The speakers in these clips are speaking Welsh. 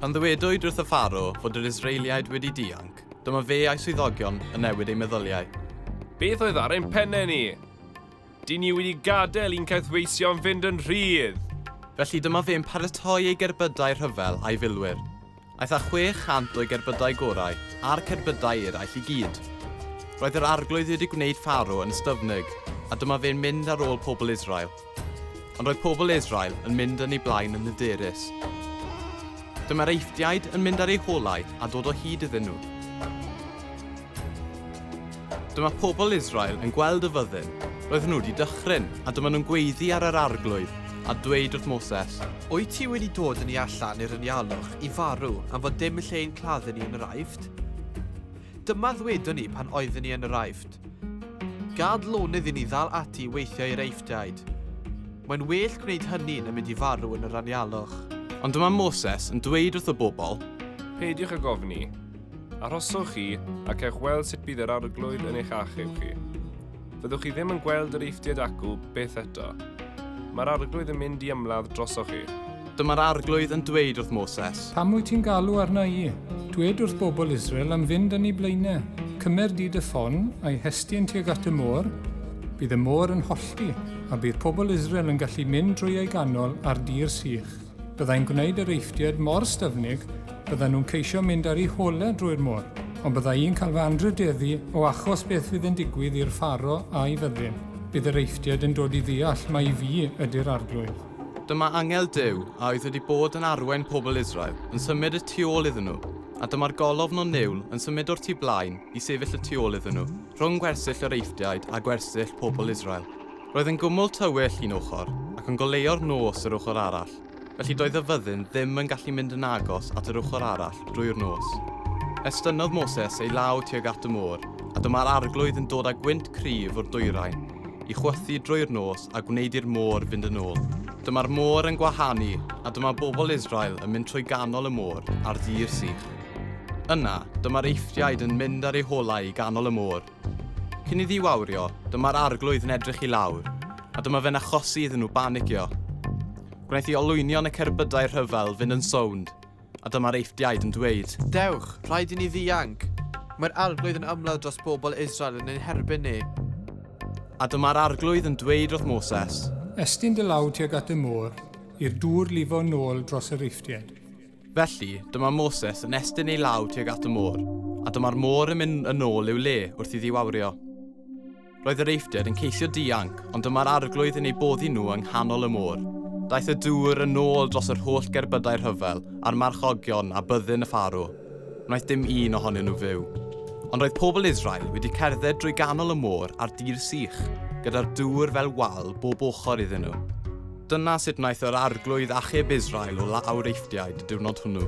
Pan ddywedwyd wrth y ffaro fod yr Israeliaid wedi dianc, dyma fe a'i swyddogion yn newid ei meddyliau. Beth oedd ar ein pennau ni? Dyn ni wedi gadael i'n caethweision fynd yn rhydd. Felly dyma fe'n paratoi ei gerbydau rhyfel a'i filwyr. Aeth â 600 o'i gerbydau gorau a'r cerbydau eraill i gyd. Roedd yr Arglwydd wedi gwneud Pharaoh yn styfnig, a dyma fe'n mynd ar ôl pobl Israel. Ond roedd pobl Israel yn mynd yn ei blaen yn hyderus. Dyma'r Eifftiaid yn mynd ar eu holau a dod o hyd iddyn nhw. Dyma pobl Israel yn gweld y fyddin. Roedden nhw wedi dychryn, a dyma nhw'n gweiddi ar yr arglwydd, a dweud wrth Moses. Wyt ti wedi dod â ni allan i'r anialwch i farw am fod dim lle i'n claddu ni yn yr Aifft? Dyma ddwedon ni pan oedden ni yn yr Aifft. Gad lonydd i ni ddal ati i weithio i'r Eifftiaid. Mae'n well gwneud hynny na mynd i farw yn yr anialwch. Ond dyma Moses yn dweud wrth y bobl. Peidiwch ag ofni. Arhoswch chi ac ewch weld sut bydd yr arglwydd yn eich achub chi. Fyddwch chi ddim yn gweld yr eithiad acw beth eto. Mae'r arglwydd yn mynd i ymladd drosoch chi. Dyma'r arglwydd yn dweud wrth Moses. Pam wyt ti'n galw arna i? Dwed wrth bobl Israel am fynd yn ei blaenau. Cymer di dy ffon a'i hestyn tuag at y môr. Bydd y môr yn hollti, a bydd pobl Israel yn gallu mynd drwy ei ganol ar dir sych. Byddai'n gwneud yr eiftiaid mor styfnig, byddan nhw'n ceisio mynd ar eu hole drwy'r môr, ond byddai i'n cael fy anrhydeddu o achos beth fydd yn digwydd i'r Pharo a'i fyddin. Bydd yr eiftiaid yn dod i ddeall mai fi ydy'r Arglwydd. Dyma angel Duw, a oedd wedi bod yn arwain pobl Israel, yn symud y tu ôl iddyn nhw, a dyma'r golofn o niwl yn symud o'r tu blaen i sefyll y tu ôl iddyn nhw, rhwng gwersyll yr eiftiaid a gwersyll pobl Israel. Roedd yn gwmwl tywyll un ochr ac yn goleuo'r nos yr ochr arall, felly doedd y fyddin ddim yn gallu mynd yn agos at yr ochr arall drwy'r nos. Estynnodd Moses ei law tuag at y môr, a dyma'r arglwydd yn dod â gwynt cryf o'r dwyrain i chwythu drwy'r nos a gwneud i'r môr fynd yn ôl. Dyma'r môr yn gwahanu, a dyma bobl Israel yn mynd trwy ganol y môr ar ddur sych. Yna, dyma'r Eithriaid yn mynd ar eu holau i ganol y môr, Cyn iddi wawrio, dyma'r Arglwydd yn edrych i lawr, a dyma fe'n achosi iddyn nhw banicio. Gwnaeth i olwynion y cerbydau rhyfel fynd yn sownd, a dyma'r Eifftiaid yn dweud. Dewch, rhaid i ni ddianc! Mae'r Arglwydd yn ymladd dros bobl Israel yn ein herbyn ni. A dyma'r Arglwydd yn dweud wrth Moses. Estyn dy law tuag at y môr, i'r dŵr lifo nôl dros yr Eifftiaid. Felly, dyma Moses yn estyn ei law tuag at y môr, a dyma'r môr yn mynd yn ôl i'w le wrth iddi wawrio. Roedd yr eifder yn ceisio dianc, ond dyma'r arglwydd yn ei boddi nhw yng nghanol y môr. Daeth y dŵr yn ôl dros yr holl gerbydau rhyfel a'r marchogion a byddin y ffarw. Wnaeth dim un ohonyn nhw fyw. Ond roedd pobl Israel wedi cerdded drwy ganol y môr ar dir sych, gyda'r dŵr fel wal bob ochr iddyn nhw. Dyna sut wnaeth yr Arglwydd achub Israel o law'r Eifftiaid y diwrnod hwnnw.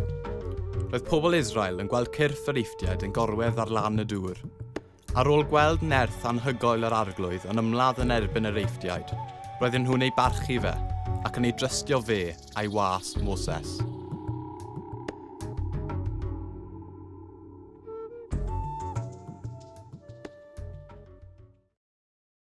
Roedd pobl Israel yn gweld cyrff yr Eifftiaid yn gorwedd ar lan y dŵr. Ar ôl gweld nerth anhygoel yr Arglwydd yn ymladd yn erbyn yr Eifftiaid, roedden nhw'n ei barchu fe ac yn ei drystio fe a'i was Moses.